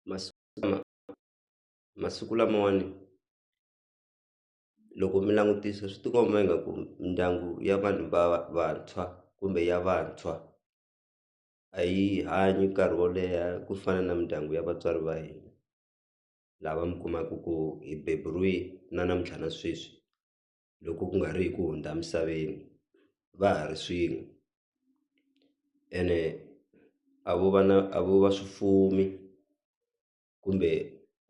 masiku lama masiku lamawani loko mi langutisa swi tikomba ingaku mindyangu ya vanhu va vantshwa kumbe ya vantshwa a yi hanyi nkarhi wo leha ku fana na mindyangu ya vatswari va hina lava mi kumaku ku hi beburiwe na namuntlha na sweswi. loko ku nga ri hi ku hundza emisaveni va ha ri swin'we ene a vo va na a vo va swi fumi kumbe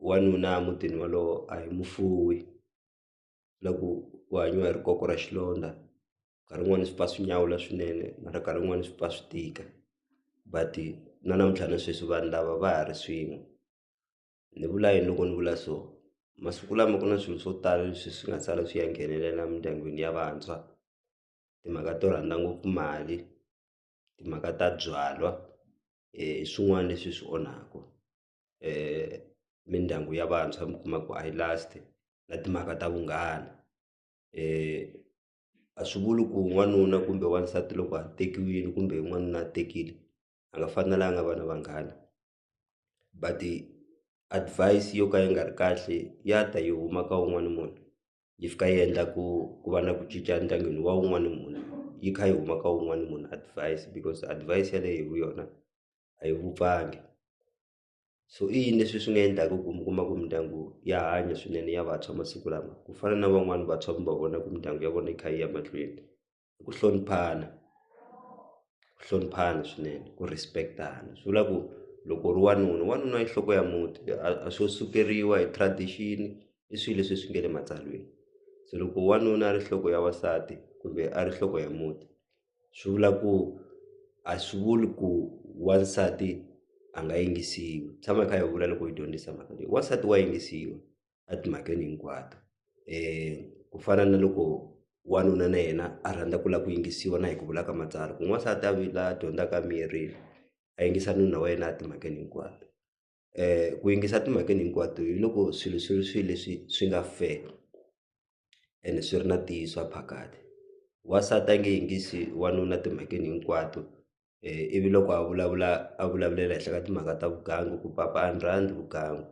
wanuna emutini wolowo a hi mufumi na ku ku hanyiwa hi ri koko ra xilondza nkarhi wun'wani swi pfa swi nyawula swinene mara nkarhi wun'wani swi pfa swi tika but na namuntlha na sweswi vanhu lava va ha ri swin'we. ni vula yini loko ni vula so masiku lama ku na swilo swo tala leswi swi nga sala swi ya nghenelela emindyangwini ya vantshwa timhaka to rhandza ngopfu mali timhaka ta byalwa hi swin'wana leswi swi onhaku mindyangu ya vantshwa mi kuma ku a yi last na timhaka ta vunghana a swi vuli ku n'wanuna kumbe wansati loko a tekiwile kumbe n'wanuna a tekile a nga fanelanga a va na vanghana. but advise yo ka yi nga ri kahle ya ta yi huma ka wun'wani munhu yi fika yi endla ku ku va na ku cinca endyangwini wa wun'wani munhu yi kha yi huma ka wun'wani munhu advise because advise yaleyo hi yona a yi vupfangi so i yini leswi swi nga endlaka ku mi kuma ku mindyangu ya hanya swinene ya vantshwa masiku lama ku fana na van'wani vantshwa mi va vona ku mindyangu ya vona yi kha yi ya mahlweni. i ku hloniphana ku hloniphana swinene ku respect-tana swi vula ku loko u ri wanuna wanuna i nhloko ya muti a swo sukeriwa hi tradition i swilo leswi swi nga le matsalweni se loko wanuna a ri nhloko ya wansati kumbe a ri nhloko ya muti swi vula ku a swi vuli ku wansati a nga yingisiwi hi tshama hi kha hi vula loko hi dyondzisa mhaka leyi wansati wa yingisiwa. etimhakeni hinkwato ku fana na loko wanuna na yena a rhandza ku lava ku yingisiwa na hi ku vula ka matsalwa ku n'wansati a la dyondzaka a miyerile a yingisa nuna wa yena etimhakeni hinkwato ku yingisa etimhakeni hinkwato hi loko swilo swi ri swilo leswi swi nga fair ene swi ri na ntiyiso a phakade wansati a nge yingisi wanuna timhakeni hinkwato. ivi loko a vulavula a vulavulela henhla ka timhaka ta vugangu ku papa a ni rhandzi vugangu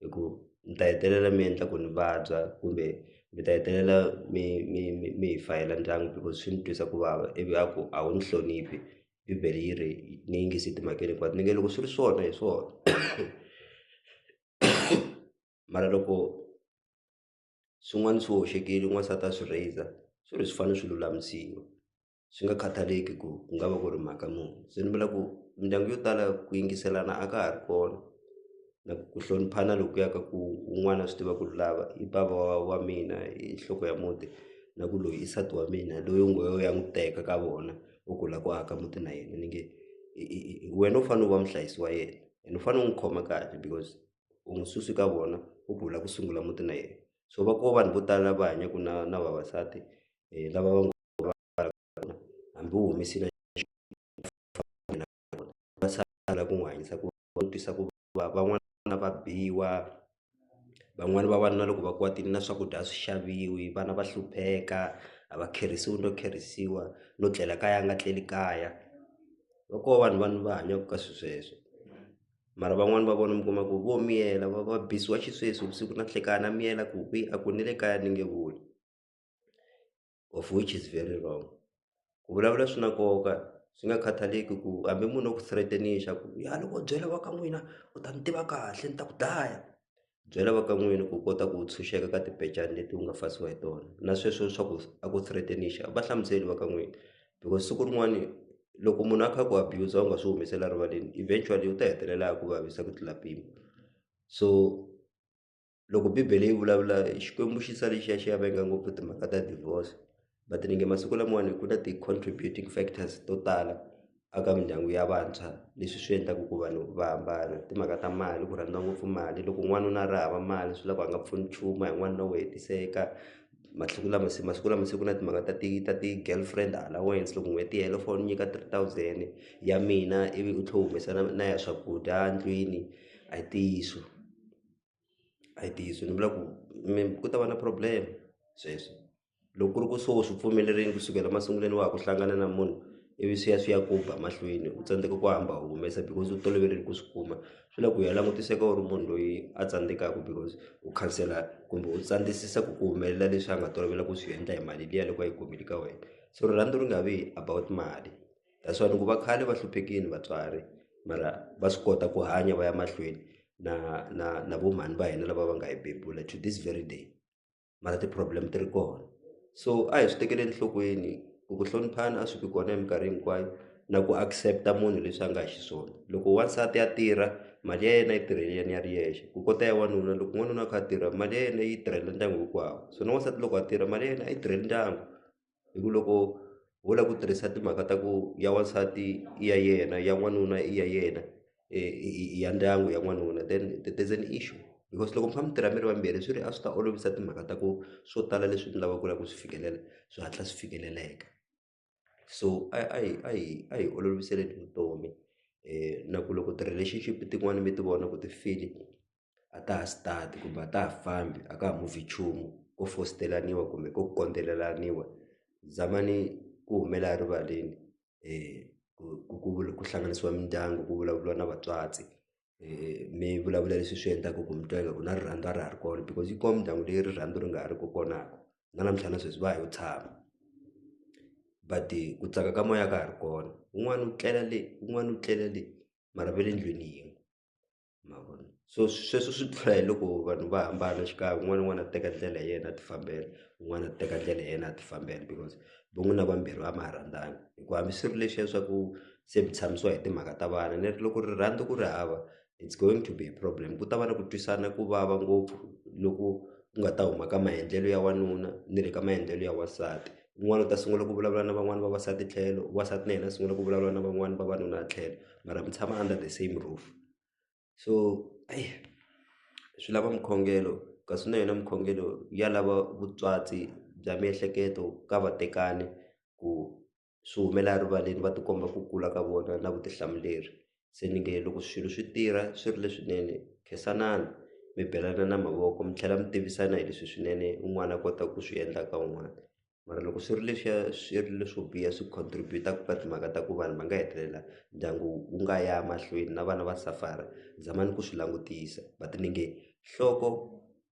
hi ku ni ta hetelela mi endla ku ni vabya kumbe mi ta hetelela mi mi mi mi hi fayila ndyangu loko swi ni twisa ku vava ivi a ku a wu ni hloniphi bibele yi ri ni yingisi timhakeni hinkwato ni nge loko swi ri swona hi swona mara loko swin'wani swi hoxekile n'wansati a swi raiser swi ri swi fane swi lulamisiwa. swi nga khathaleki ku ku nga va ku ri mhaka muni se ni vula ku mindyangu yo tala ku yingiselana a ka ha ri kona na ku hloniphana lokuya ka ku un'wana a swi tiva ku ri lava i bava wa wa mina i nhloko ya muti na ku loyi i nsati wa mina loyi u ngo yo ya n'wi teka ka vona u ku la ku aka muti na yena ni nge wena u fane u va muhlayisi wa yena ene u fane u n'wi khoma kahle because u n'wi susi ka vona u ku u la ku sungula muti na yena so va ko vanhu vo tala va hanyaku na na vavasati lava va ngo. hambi u humesile va sala ku n'wi hanyisa ku va twisa ku vava van'wana va biwa van'wani va vanuna loko va kwatile na swakudya a swi xaviwi vana va hlupheka a va kherisiwi no kherisiwa no tlela kaya a nga tleli kaya va ko vanhu vanhu va hanyaka ka swilo sweswo mara van'wani va vona mi kuma ku vo miyela va va bisiwa xisweswo vusiku na nhlekani a miyela ku kwihi a ku ni le kaya ni nge voni. of which is very wrong ku vulavula swi na nkoka swi nga khathaleki ku hambi munhu o ku threaten-ixa ku ya loko u byela va ka n'wina u ta ni tiva kahle ni ta ku dlaya byela va ka n'wini ku kota ku tshunxeka ka timbecani leti u nga fasiwa hi tona na sweswo swa ku a ku threaten-ixa va hlamuseli va ka n'wina because siku rin'wani loko munhu a kha ku abuse u nga swi humesela rivaleni eventually u ta hetelela a ku vavisa ku tlula mpimo so loko bibele yi vulavula xikwembu xi sale xi ya xi ya venga ngopfu timhaka ta divorce but ni nge masiku lamawani ku na ti-contributing factors to tala a ka mindyangu ya vantshwa leswi swi endlaku ku vanhu va hambana timhaka ta mali ku rhandza ngopfu mali loko n'wanuna a ri hava mali swi la ku a nga pfuni nchumu a hi n'wanuna wo hetiseka masiku lama se masiku lama se ku na timhaka ta ti ta ti-girl friend allowance loko n'hweti yi hela u fanele u nyika three thousand ya mina ivi u tlhe u humesa na na ya swakudya ndlwini a hi ntiyiso. a hi ntiyiso ni vula ku mi ku ta va na problem sweswo loko ku ri ku swona swi pfumelerile kusukela masungulweni wa ha ku hlangana na munhu ivi swi ya swi ya ku ba mahlweni u tsandzeka ku hamba u humesa because u toloverile ku swi kuma swi la ku ya langutiseka u ri munhu loyi a tsandzekaka because u khansela kumbe u tsandzekisa ku ku humelela leswi a nga tolovela ku swi endla hi mali liya loko a yi kumile ka wena so rirhandzu ri nga vi about mali. that's why ni ku va khale va hluphekini vatswari mara va swi kota ku hanya va ya mahlweni na na na vo mhani va hina lava va nga hi bebula to this very day mara ti-problem ti ri kona so a hi swi tekele enhlokweni ku ku hloniphana a swi vi kona hi minkarhi hinkwayo na ku accept-a munhu leswi a nga xiswona loko wansati ya tirha mali ya yena yi tirhele yena ya ri yexe ku kota ya wanuna loko n'wanuna a kha a tirha mali ya yena yi tirhela ndyangu hinkwawo so na wansati loko a tirha mali ya yena a yi tirheli ndyangu hi ku loko ho lava ku tirhisa timhaka ta ku ya wansati i ya yena ya n'wanuna i ya yena i ya ndyangu ya n'wanuna then there's an issue because loko mi kha mi tirha mi ri vambirhi swi ri a swi ta olovisa timhaka ta ku swo tala leswi mi lavaka ku lava ku swi fikelela swi hatla swi fikeleleka so a hi a hi a hi a hi oloviseni vutomi na ku loko ti-relationship tin'wani mi ti vona ku ti file. a ta ha start kumbe a ta ha fambi a ka ha move nchumu ko fositelaniwa kumbe ko kondzelelaniwa zamani ku humelela erivaleni ku ku ku ku hlanganisiwa mindyangu ku vulavuriwa na vatswatsi mi vulavula leswi swi endlaku ku mi twa ingaku na rirhandzu a ra ha ri kona because yi kona mindyangu leyi rirhandzu ri nga ha ri ku kona ko na namuntlha na sweswi va ha yo tshama but ku tsaka ka moya a ka ha ri kona wun'wani u tlela le wun'wani u tlela le mara va le ndlwini yin'we. ma vona so sweswo swi pfuna hi loko vanhu va hambana xikan'we un'wana na un'wana a teka ndlela ya yena a ti fambela un'wana a teka ndlela ya yena a ti fambela because vo n'wina vambirhi a ma ha rhandzani hi ku hambi swi ri leswiya swa ku se mi tshamisiwa hi timhaka ta vana ni ri loko rirhandzu ku ri hava it's going to be a problem ku ta va na ku twisana ku vava ngopfu loku ku nga ta huma ka maendlelo ya wanuna ni le ka maendlelo ya wansati un'wana u ta sungula ku vulavula na van'wani vavasati tlhelo wasati na yena a sungula ku vulavula na van'wani vavanuna tlhelo. mara mi tshama under the same roof so eyi swi lava mukhongelo kasi na yona mukhongelo ya lava vutswatsi bya miehleketo ka vatekani ku swi humela erivaleni va tikomba ku kula ka vona na vutihlamuleri se ni nge loko swilo swi tirha swi ri leswinene khensanani mi belana na mavoko mi tlhela mi tivisana hi leswi swinene un'wana a kota ku swi endla ka un'wana. mara loko swi ri leswiya swi ri leswo biha swi contribut-a ka timhaka ta ku vanhu va nga hetelela ndyangu wu nga ya mahlweni na vana va suffer-a zamani ku swi langutisa va ti nenge nhloko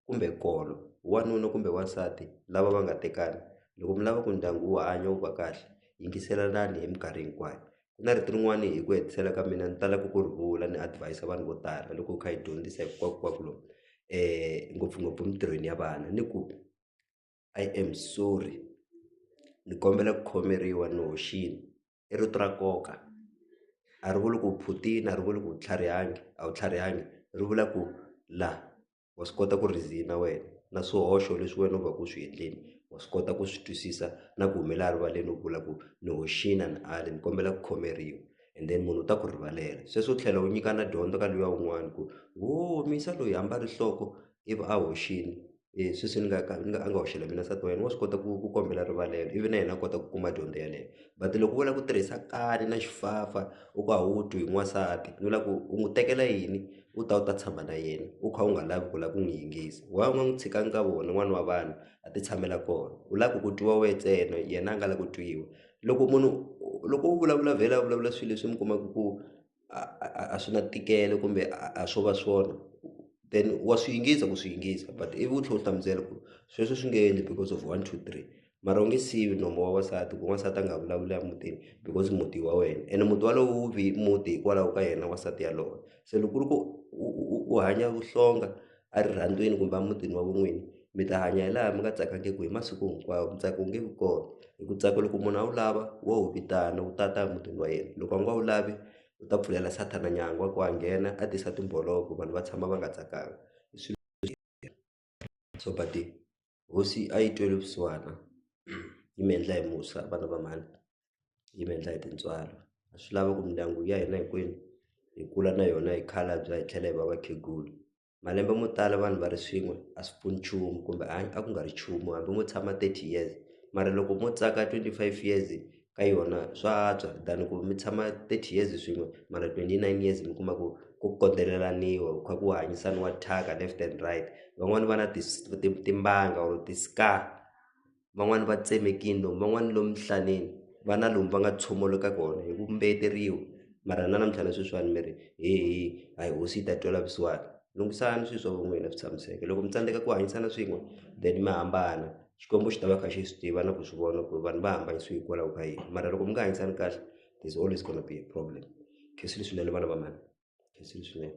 kumbe nkolo wanuna kumbe wansati lava va nga tekana loko mi lava ku ndyangu wu hanya wu va kahle yingiselanani hi mikarhi hinkwayo ku na rito rin'wani hi ku hetisela ka mina ni talaka ku ri vula ni advis-a vanhu vo tala loko hi kha hi dyondzisa ngopfungopfu emitirhweni ya vana ni ku. I am sorry ni kombela ku khomeriwa ni hoxile i rito ra nkoka a ri vuli ku u phutile a ri vuli ku u tlharihangi a wu tlharihangi ri vula ku la wa swi kota ku reason-a wena na swihoxo leswi wena u va ku u swi endleni wa swi kota ku swi twisisa na ku humelela erivaleni u vula ku ni hoxile a ni ali ni kombela ku khomeriwa and then munhu u ta ku rivalela sweswo u tlhela u nyikana dyondzo ka luya un'wana ku wo misa loyi hamba ri nhloko ivi a hoxile. e sweswi ni nga ka ni nga a nga hoxela mina nsati wa yena wa swi kota ku ku kombela rivalelo ivi na yena a kota ku kuma dyondzo yeleyo but loko u lava ku tirhisa kani na xifafa u ku a wu twi hi n'wansati ni vula ku u n'wi tekela yini u ta u ta tshama na yena u kha u nga lavi ku lava ku n'wi yingisa why u nga n'wi tshikangi ka vona n'wana wa vanhu a ti tshamela kona u lava ku ku twiwa wehe ntsena yena a nga lavi ku twiwa loko munhu loko u vulavula vhela a vulavula swilo leswi mi kumaka ku. a a a a swi na ntikelo kumbe a swo va swona then wa swi yingisa ku swi yingisa but ivi u tlhe u hlamusela ku sweswo swi nge endli because of one two three mara u nge siyi nomu wa wansati ku wansati a nga vulavuli a mutini because muti i wa wena ene muti walowo wu ve muti hikwalaho ka yena wansati yaloye se loko ku ri ku u hanya vuhlonga. a rirhandziweni kumbe emutini wa vun'wini mi ta hanya hi laha mi nga tsakangiki hi masiku hinkwawo ntsako wu nge vi kona hi ku tsaka loko munhu a wu lava wa wu vitana wu tata emutini wa yena loko a nga wu lavi u ta pfulela sathana nyangwa wa ku a nghena a tisa timbolovo vanhu va tshama va nga tsakanga hi swilo so . hosi a yi twele vusiwana yi mi endla hi musa vana va mhani yi mi endla hi tintswalo a swi lava ku mindyangu ya hina hinkwenu hi kula na yona hi khalabya hi tlhela hi va vakhegula malembe mo tala vanhu va ri swin'we a swi pfuni nchumu kumbe a ku nga ri nchumu hambi mo tshama thirty years mara loko mo tsaka twenty five years ka yona swa antswa than ku mi tshama thirty years swin'we mara twenty nine years mi kuma ku ku kondelelaniwa ku kha ku hanyisaniwa thyaka left and right van'wani va na ti ti timbanga or ti-scar van'wani va tsemekini lomu van'wani lomu emihlaneni va na lomu va nga tshomoloka kona hi ku mbeyeteriwa mara na namuntlha na sweswiwani mi ri he he a hi hosi yi ta twela vusiwana lunghisani swi swa van'wina swi tshamiseke loko mi tsandzeka ku hanyisana swin'we then mi hambana. Xikwembu xi ta va kha xi swi tiva na ku swi vona ku ri vanhu va hambanyisiwe hikwalaho ka yini mara loko mi nga hanyisani kahle there's always gonna be a problem khensile swinene vana va mhani khensile swinene.